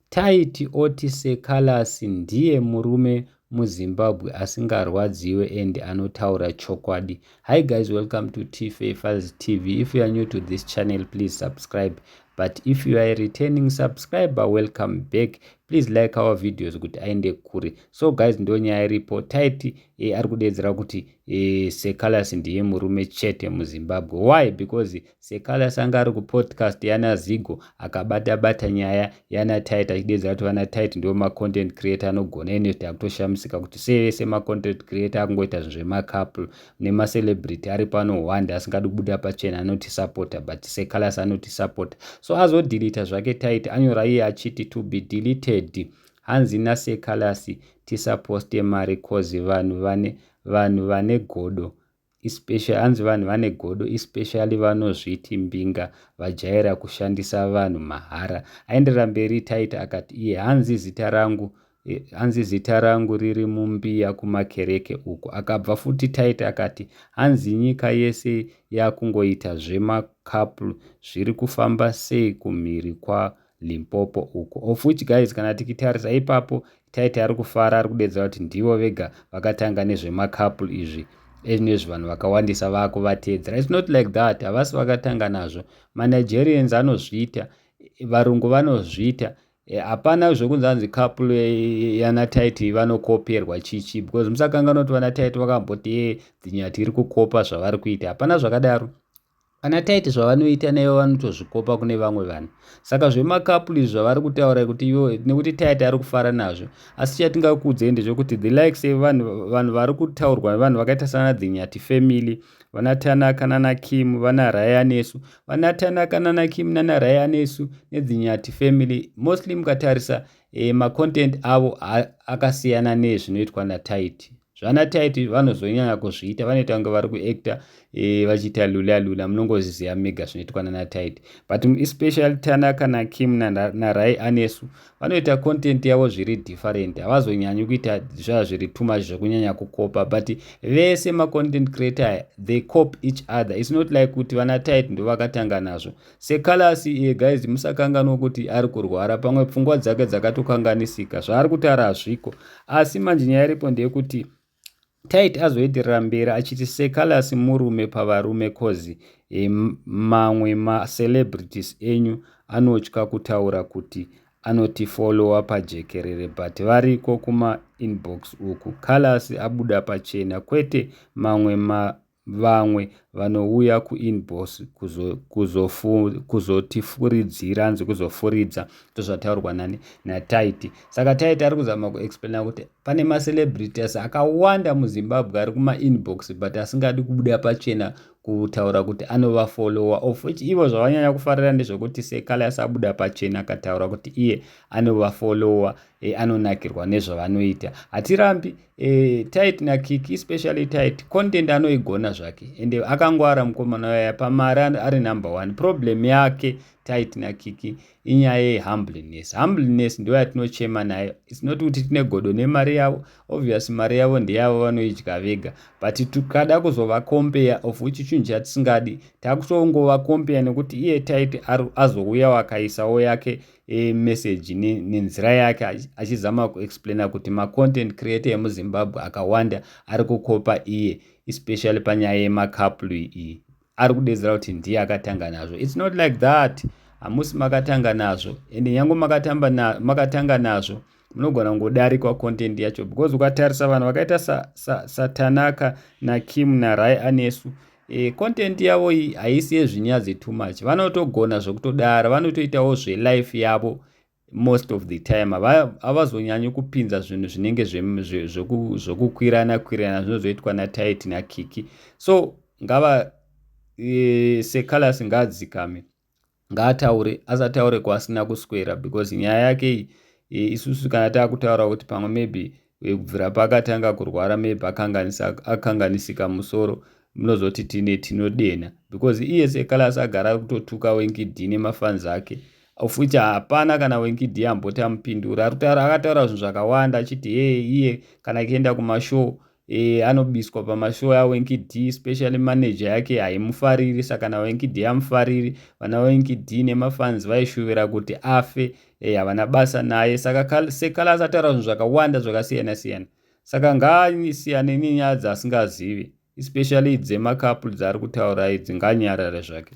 Taiti oti sir Callas ndiye murume muZimbabwe asingarwadziwe and anotaura chokwadi. Hi guys, welcome to Tife Files TV. If you are new to this channel, please subscribe. But if you are a returning subscriber, welcome back. Please like our videos kuti aende kure. So guys, ndo nyaya iripo. Taiti e, ari kudedzera kuti e, Sir Callas ndiye murume chete muZimbabwe. Why? Because Sekalasi anga ari kupodcast yana Zigo akabata bata nyaya yana Tight achidedza kuti vana Tight ndiwo ma content creator anogona ine takutoshamisika kuti sei vese ma content creator akungoita zvinhu zvema couple nema celebrity ari pano hwanda asingadi kubuda pachena anoti supporter but Sekalasi anoti supporter so azo delete zvake Tight anyora iye achiti to be deleted hanzi na Sekalasi tisaposte mari cause vanhu vane vanhu vane godo especially hanzi vanhu vane godo especially vanozviti mbinga vajaira kushandisa vanhu mahara aenderera mberi taita akati iye hanzi zita rangu eh, hanzi zita rangu riri mumbiya kumakereke uko akabva futi taita akati hanzi nyika yese yakungoita zvemakapl zviri kufamba sei kumhiri kwa limpopo uko of which guys kana tikitarisa ipapo taiti ari kufara ari kudedza kuti ndivo vega vakatanga nezvemacouple izvi ezvinezvi vanhu vakawandisa vakuvateedzera its not like that havasi vakatanga nazvo manigerians anozviita varungu vanozviita e, hapana zvekunzi anzi couple yana taiti vanokoperwa chichi because musakanganoti vana taiti vakamboti ye dzinyati iri kukopa zvavari kuita hapana zvakadaro Kana taiti zvavanoita naivo vanotozvikopa kune vamwe vanhu. Saka zvemakapuli zvavari kutaura kuti ivo nekuti taiti ari kufara nazvo. Asi chatingakuudzei ndezvekuti the likes evanhu vanhu vari kutaurwa vanhu vakaita sana Dhinyati family, vana Tanaka nana Kim, vana Ryan esu. Vana Tanaka nana Kim nana Ryan esu neDhinyati family mostly mukatarisa eh, macontent avo akasiyana nezvinoitwa nataiti. zvana tight vanozonyanya kuzviita vanoita kunge vari kuacta e, vachiita lula lula munongoziziva mega zvinoitwa nana tight but especially tanaka nakim narai na anesu vanoita content yavo zviri different havazonyanyi kuita zvaa zviri too much zvekunyanya kukopa but vese macontent creator aya they cop each other its not like kuti vana tight ndovakatanga nazvo sekalasi iye guys musakanganwa kuti ari kurwara pamwe pfungwa dzake dzakatokanganisika zvaari kutaura hazviko asi manje nyaya iripo ndeyekuti tait azoenderera mberi achiti sekalasi murume pavarume cozi e, mamwe macelebrities enyu anotya kutaura kuti anotifolowa pajekerere but variko kumainbox uku kalasi abuda pachena kwete mamwe ma Vamwe vanouya kuinbox kuzotifuridzira hanzi kuzofuridza ndozvataurwa nani nataiti saka taiti ari kuzama kuexplaina kuti pane macelebrities akawanda muzimbabwe ari kumainbox but asingadi kubuda pachena kutaura kuti anovafolowa of which ivo zvavanyanya kufarira ndezvekuti sekale asabuda pachena akataura kuti iye anovafolowa e, anonakirwa nezvavanoita hatirambi Eh, tight na kiki especially tight content anoigona zvake and akangwara mukomana waya pamari ari number one problem yake tight na kiki inyaya yehumbleness humbleness ndo yatinochema nayo its not kuti tine godo nemari yavo obvious mari yavo ndeyavo vanoidya vega but tikada kuzova compare of which chinhu chatisingadi takutongovacompare nekuti iye tight azouya wakaisawo yake e, message nenzira yake achizama kuexplaina kuti macontent creator emuzimbabwe akawanda ari kukopa iye especially panyaya yemacouple iyi ari kudedzera kuti ndiye akatanga nazvo its not like that hamusi makatanga nazvo ende nyange makatanga nazvo munogona kungodarikwa content yacho because ukatarisa vanhu vakaita satanaka sa, sa nakim narai anesu e, content yavo iyi haisi yezvinyadzi too much vanotogona zvekutodara vanotoitawo zvelife yavo most of the time havazonyanyi ava kupinza zvinhu zvinenge zvekukwirana kwirana zvinozoitwa natit nakiki so ngava e, secalas ngaadzikame ngaataure asataure kwaasina kuswera because nyaya yake iyi e, isusu kana takutaura kuti pamwe maybe e, kubvira paakatanga kurwara maybe akanganisika musoro munozoti tine tinodenha because iye sekalasi agara kutotuka wenkidi nemafans ake futi hapana kana wenkidi amboti amupindura akutaura zvinhu zvakawanda achiti hee iye kana akienda kumashow e, anobiswa pamashow awenki d especially manager yake haimufariri saka nawenki d amufariri vana wenki d nemafans vaishuvira kuti afe e, havana basa naye saka sekala asataura zvinhu zvakawanda zvakasiyana siyana saka ngaasiyane nenyaya dzaasingazivi especially dzemakapl dzaari kutaura idzi nganyarare zvake